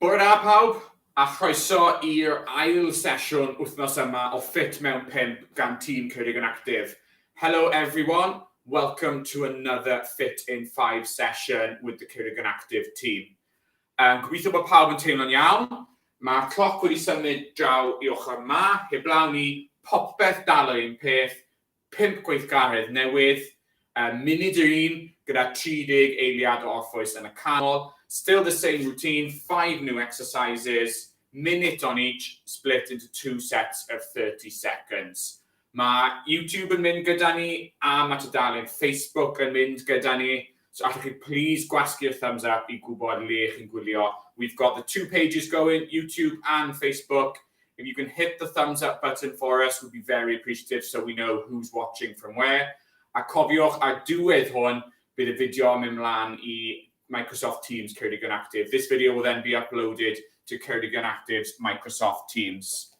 Bore da pawb, a chroeso i'r ail sesiwn wythnos yma o Fit Mewn 5 gan tîm Ceurig yn Actif. Hello everyone, welcome to another Fit in 5 session with the Ceurig yn Actif team. Yym, gobeithio bod pawb yn teimlo'n iawn. Mae'r cloc wedi symud draw i ochr 'ma, heblaw ni, popeth dal yr un peth, pump gweithgaredd newydd, um, munud yr un, gyda 30 eiliad o orffwys yn y canol, still the same routine, five new exercises, minute on each, split into two sets of 30 seconds. Mae YouTube yn mynd gyda ni a mae tudalen Facebook yn mynd gyda ni, so allwch chi plîs gwasgu'r thumbs up i gwybod le chi'n gwylio. We've got the two pages going, YouTube and Facebook. If you can hit the thumbs up button for us, we'd be very appreciative so we know who's watching from where. A cofiwch, ar diwedd hwn, bydd y fideo yn mynd mlaen i Microsoft Teams Ceredigion Active. This video will then be uploaded to Ceredigion Active's Microsoft Teams.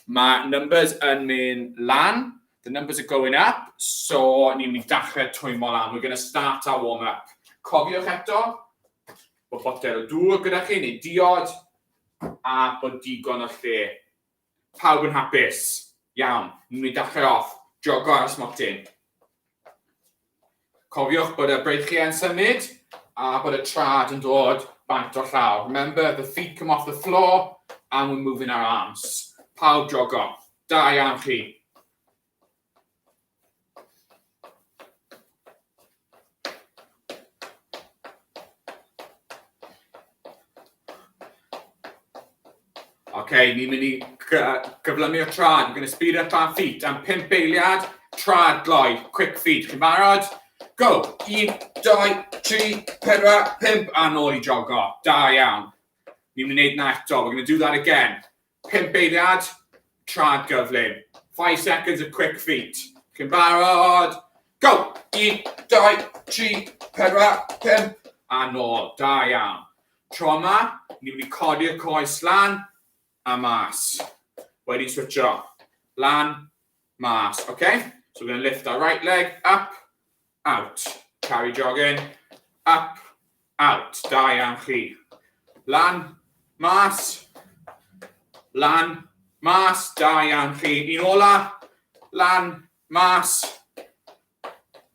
Mae numbers yn mynd lan, the numbers are going up, so ni'n mynd i dachrau twymo lan, we're going to start our warm up. Cofiwch eto, bod botel o dŵr gyda chi, neu diod, a bod digon o lle. Pawb yn hapus. Iawn, ni'n mynd i dachrau off, jogo ar y smotyn. Cofiwch bod y breichiau yn symud a bod y trad yn dod bant o llaw. Remember, the feet come off the floor and we're moving our arms. Pawb jogo. Da iawn chi. OK, ni'n mynd i gyflymu o trad. We're going to speed up our feet am 5 eiliad. Trad gloi, quick feet. Chi'n barod? Go! 1, 2, 3, 4, 5 a nôl i jogo. Da iawn. Ni'n mynd i wneud na eto. We're going to do that again. Pump eiliad, trad gyflym. Five seconds of quick feet. Chi'n barod? Go! Un, dau, tri, pedwar, pump. A nôl. Da iawn. Tro yma, ni'n mynd i codi'r coes lan a mas. Wedi switcho. Lan Mas, ok? So we're going to lift our right leg, up, out. Carry jog in, up, out. Da iawn chi. Lan, mas, lan, mas. Da iawn chi. Un ola, lan, mas,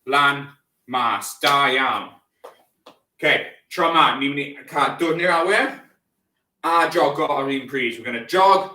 lan, mas. Da iawn. Ok, tro ma, ni'n mynd i cael dwrn i'r awyr a jogo ar un pryd. We're going to jog,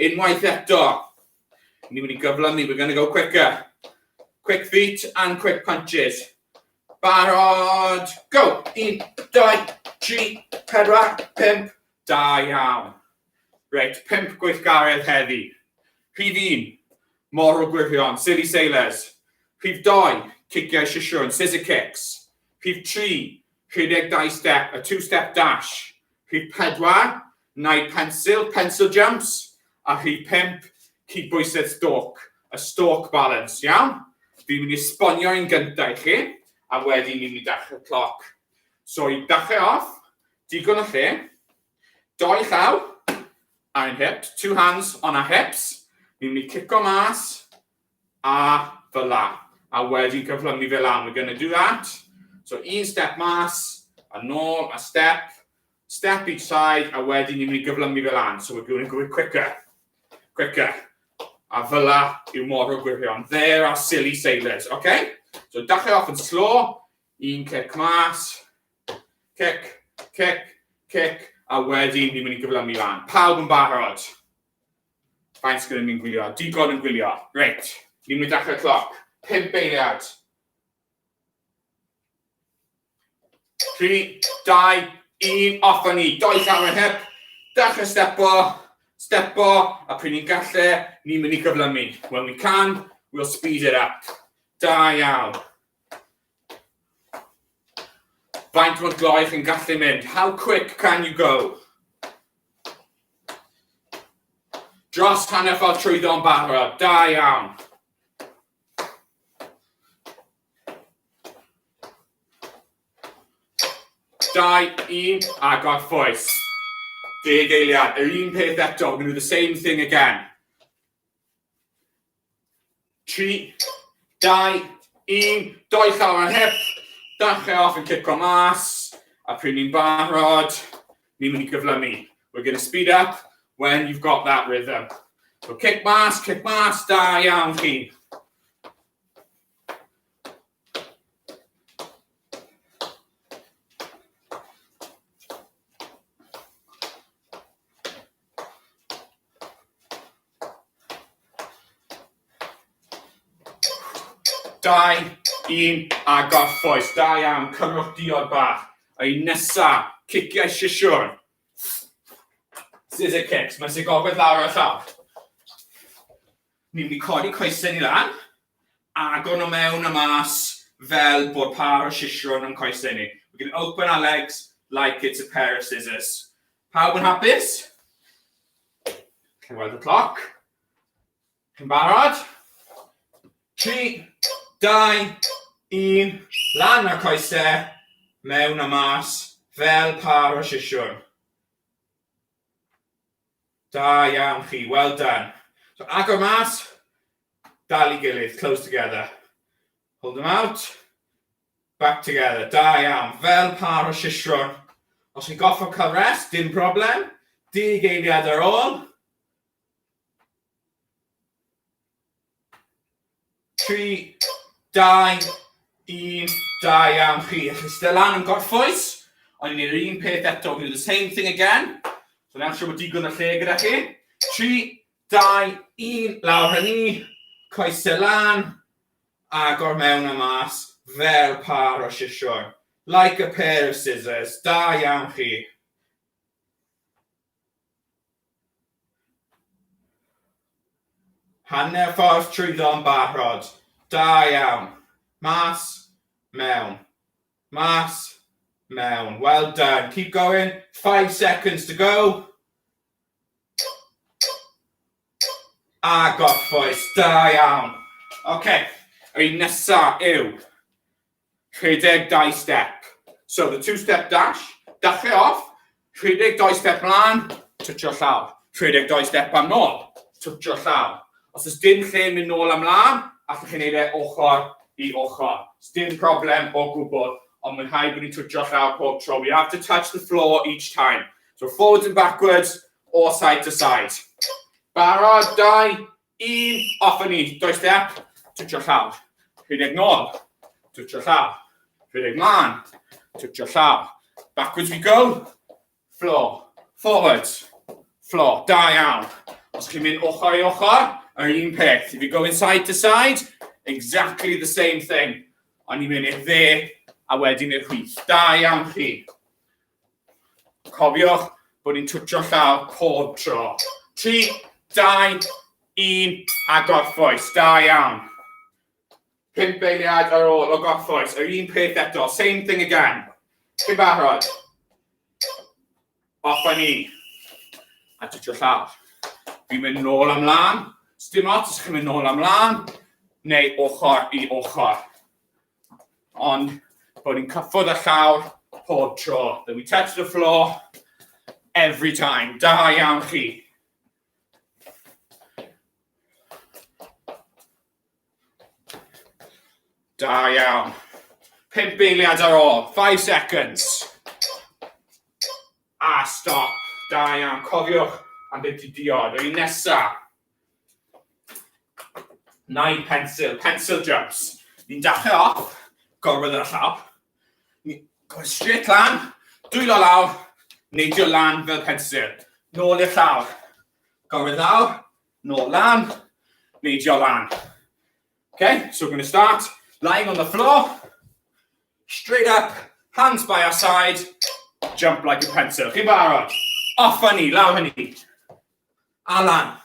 Unwaith eto, ni wedi gyflymu, we're going to go quicker. Quick feet and quick punches. Barod, go! Un, dau, tri, pedwar, pimp, da iawn. Reit, pimp gweithgaredd heddi. Rhif un, mor o gwirion, silly sailors. Rhif doi, ciciau sisiwn, scissor kicks. Rhif tri, rhedeg dau step, a two-step dash. Rhif pedwar, Nai pensil, pencil jumps, a rhif pump, cydbwysedd stôc, y stôc balans, iawn? Fi'n mynd i esbonio un gyntaf i chi, a wedyn ni'n mynd i dachrau cloc. So i dachrau off, digon o lle, doi llaw, ar ein hips, two hands on our hips, ni'n mynd i cico mas, a fel'a, a wedyn cyflymu fe lan, we're gonna do that, so un step mas, a nôl, a step, step each side, a wedyn ni'n mynd i gyflymu fe lan, so we're going to go quicker, quicker, a fel'a yw mor o gwirion, there are silly sailors, ok? So dachrau off yn slow, un cic mas, cic, cic, cic, a wedyn ni'n mynd i gyflymu lan. Pawb yn barod? Faint gyda ni'n gwylio? Digon yn gwylio. Reit, ni'n mynd dachrau cloc. Pimp eiliad. 3, 2, 1, off a ni. Doi llawn yn hip. Dachrau stepo. Stepo. A pryd ni'n gallu, ni'n mynd i gyflymu. When we can, we'll speed it up. Da iawn. Faint mor gloi chi'n gallu mynd? How quick can you go? Dros hanner ffordd trwyddo yn barod. Da iawn. Dau, un, agor ffwys. Deg eiliad, yr un peth eto, we're going to do the same thing again. 3, 2, 1, doi llaw ar hip, dachrau off yn cico mas, a pryd ni'n barod, ni'n mynd i gyflymu. We're going to speed up when you've got that rhythm. So cic mas, cic mas, da iawn chi. Dau, un, a gorffwys. Da iawn, cymrwch diod bach. Ei nesa, ciciau sisiwr. Scissor kicks, mae'n sy'n gogledd lawr o'r llaw. Ni'n mynd i codi coesau ni lan, agor nhw mewn a mas fel bod par o sisiwr yn coesau ni. We're going to open our legs like it's a pair of scissors. Pawb yn hapus? Chi'n gweld y cloc? Chi'n barod? 3, 2, 1, lan ar coesau, mewn a mas, fel par o sisiwn. Da iawn chi, well done. So agor mas, dal i gilydd, close together. Hold them out, Back together. Da iawn. Fel pâr o siswrn. Os chi'n gorfod cael rest, dim problem. Dug eiliad ar ôl. Tri, dau, un, da iawn chi. Chi'n styr lan yn gorffwys. Ond ni'n gwneud yr un peth eto. We'll do the same thing again. So newch siw bod digon o lle gyda chi. Tri, Dau, un, lawr a ni, coesau lan, agor mewn a mas, fel pâr o siswrn. Like a pair of scissors, da iawn chi. Hanner ffordd trwyddo yn barod, da iawn. Mas, mewn, mas, mewn. Well done, keep going, five seconds to go. A gorffwys, da iawn. Oce, yr un nesa yw 62 step. So, the two step dash, dachre off, 62 step mlaen, twtio llaw. 62 step am nôl, twtio llaw. Os oes dim lle mynd nôl a mlaen, allwch chi wneud e ochr i ochr. Sdim problem o gwbl, ond mae'n rhaid bod ni'n twtio llaw pob tro. We have to touch the floor each time. So forwards and backwards or side to side. Barod, dau, un, off a ni. Doi step, twtio llaw. Rhedeg nôl, twtio llaw. Rhedeg mlaen, twtio llaw. Backwards we go, floor, forwards, floor. Da iawn. Os chi'n mynd ochr i ochr, yr un peth. If you go inside to side, exactly the same thing. Ond ni'n mynd i'r dde a wedyn i'r chwith. Da iawn chi. Cofiwch bod ni'n twtio llaw pob tro. 3, 2, 1, a gorffwys. Da iawn. Pimp eiliad ar ôl o gorffwys. Yr un peth eto. Same thing again. Ti'n barod? Off a ni. A twtio llaw. Fi'n mynd nôl am lan. Sdim ots os chi'n mynd nôl am lan. Neu ochr i ochr. Ond bod ni'n cyffwrdd â llawr pob tro. That we touch the floor every time. Da iawn chi. Da iawn. Pimp eiliad ar ôl. Five seconds. A stop. Da iawn. Cofiwch am beth i diod. Yr un nesaf. Nine pencil, pencil jumps. Ni'n dachrau off, gorwedd ar y llaw. Ni'n gorwedd straight lan, dwylo lawr, neidio lan fel pencil. Nôl i'r llaw. Gorwedd lawr, nôl lan, neidio lan. Okay, so we're going to start lying on the floor, straight up, hands by our side, jump like a pencil. Chi'n barod? Off ni, lawr ni. A lan.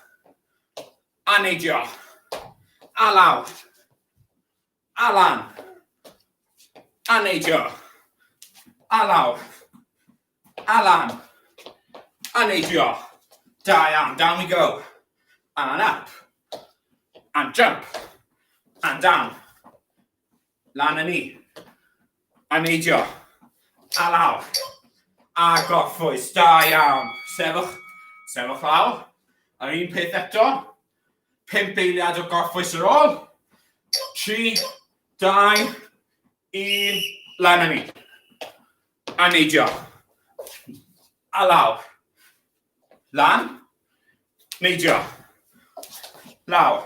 A neidio. A lawr. A lan. A neidio. A lawr. A lan. A neidio. Da iawn, down we go. And up. And jump. And down. Lan yn ni. A neidio. A lawr. A gorffwys. Da iawn. Sefwch. Sefwch lawr. A'r un peth eto. Pimp eiliad o gorffwys ar ôl. Tri. Dau. Un. Lan yn ni. A neidio. A lawr. Lan. Neidio. Lawr.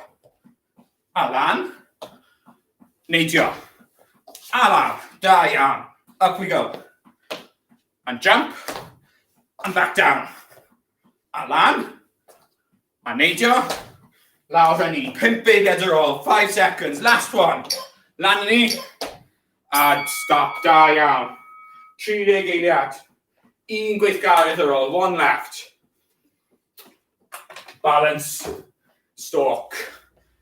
A lan. Neidio. A lawr. Da iawn. Up we go. And jump. And back down. A lan. A neidio. Lawr a ni. Pimp beiriad ar ôl. Five seconds. Last one. Lan a ni. A stop. Da iawn. 30 eiliad. Un gweithgaredd ar ôl. One left. Balance stoc.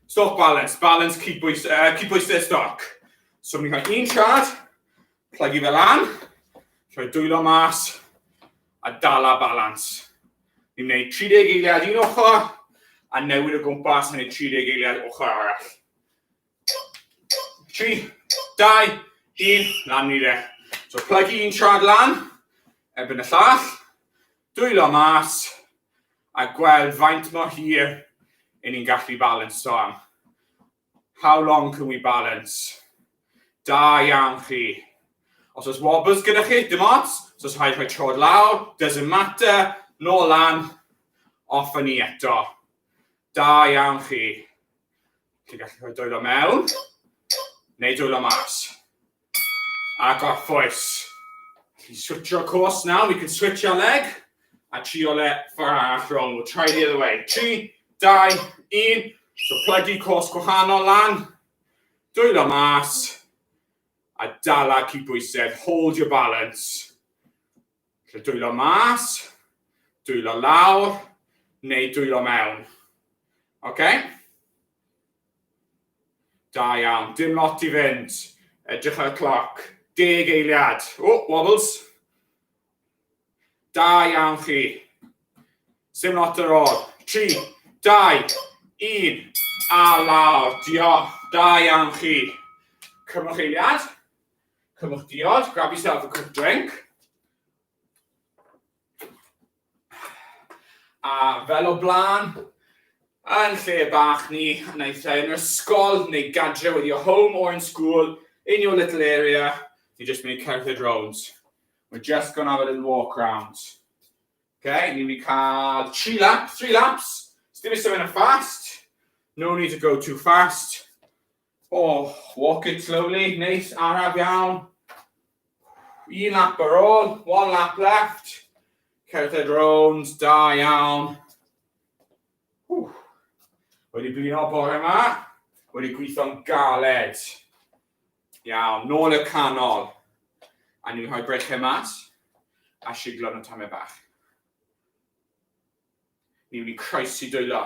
Stoc balance. Balance cyd bwys, uh, cyd bwysau stoc. So ni'n cael un siad, plygu fel an, rhoi dwylo mas, a dala balance. Ni'n gwneud 30 eiliad un ochr, a newid o gwmpas yn ei 30 eiliad ochr arall. 3, 2, 1, lan ni re. So plygu un siad lan, erbyn y llall, Dwyllo mas a gweld faint mor hir y'n ni'n gallu balansio am. How long can we balance? Da iawn chi. Os oes wobbles gyda chi, dim ots, os oes rhaid rhoi trod lawr, doesn't matter, nôl lan, off a ni eto. Da iawn chi. Chi'n gallu rhoi dwyllo mewn, neu dwyllo mas. Ac orffwys. Allu switsio course nawr, we can switch our leg. A trio le ffordd arall rownd, we'll try the other way. 3, 2, 1. So plygu course gwahanol lan. Dwylo mas. A dala cyd bwysedd, hold your balance. Felly dwylo mas, dwylo lawr, neu dwylo mewn. OK? Da iawn, dim lot i fynd. Edrych ar y cloc. Deg eiliad. O, oh, wobbles. Da iawn chi. Sim lot ar ôl. 3, 2, 1, a lawr. Diolch. Da iawn chi. Cymwch eiliad. Cymwch diod, grab yourself a quick drink. A fel o blaen, yn lle bach ni, yn eitha yn ysgol neu gadre with your home or in school, in your little area, ni just mynd i cerdded round. We're just going to have a little walk round. Okay, ni'n mynd i cael tri lap, three laps, sdim i symud yn fast, no need to go too fast, Oh, walk it slowly, neis, araf iawn. Un lap ar ôl, one lap left. Cerdded rownd, da iawn. Ww. Wedi blino bore yma, wedi gweithio'n galed. Iawn, nôl y canol. A ni'n rhoi breichau mas a siglo yn y tamau bach. Mi wn i croesi dwylo,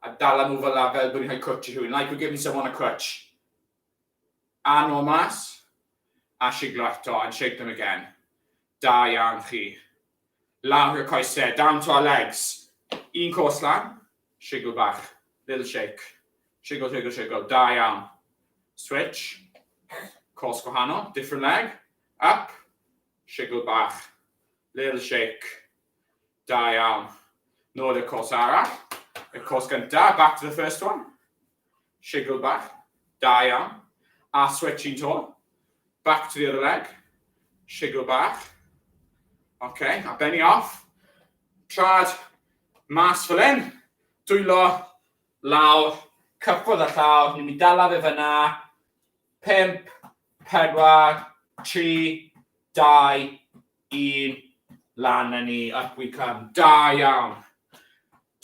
a dala nhw fel 'na fel bod ni'n rhoi cwtsh i rhywun, like we're giving someone a crutch. A nôl mas, a shiglo eto, and shake them again. Da iawn chi. Lawr y coesau, down to our legs. Un cos lan, shigl bach, little shake. Shigl, shigl, shigl, da iawn. Switch, cos gwahanol, different leg, up, shigl bach, little shake. Da iawn. Nôl i'r cwrs arall. Y cwrs gyntaf, back to the first one. Shigl bach. Da iawn. A switch un to. Back to the other leg. Shigl bach. OK, a benni off. Trad mas fel hyn. Dwylo lawr. Cyffwrdd a llaw. Ni'n mynd dala fe fyna. 5, 4, 3, 2, Un lan a ni up we come. Da iawn!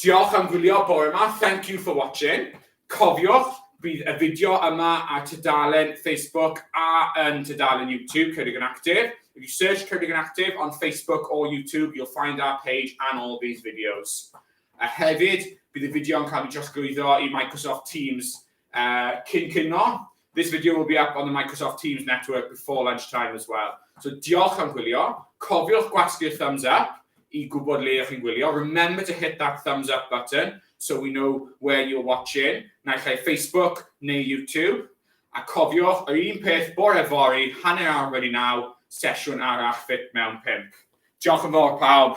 Diolch am gwylio bore ma, thank you for watching. Cofiwch, bydd y fideo yma ar tudalen Facebook a yn tudalen YouTube Cerrig yn Actif. If you search Cerrig yn Actif on Facebook or YouTube, you'll find our page and all these videos. A hefyd, bydd y fideo yn cael ei drosglwyddo i Microsoft Teams Cyn cino, this video will be up on the Microsoft Teams network before lunch time as well. So diolch am gwylio, cofiwch gwasgu'r thumbs up i gwybod le ydych chi'n gwylio. Remember to hit that thumbs up button so we know where you're watching, naill ai Facebook neu YouTube. A cofiwch, yr un peth bore fori, hanner awr wedi naw, sesiwn arall ffit mewn pimp. Diolch yn fawr pawb.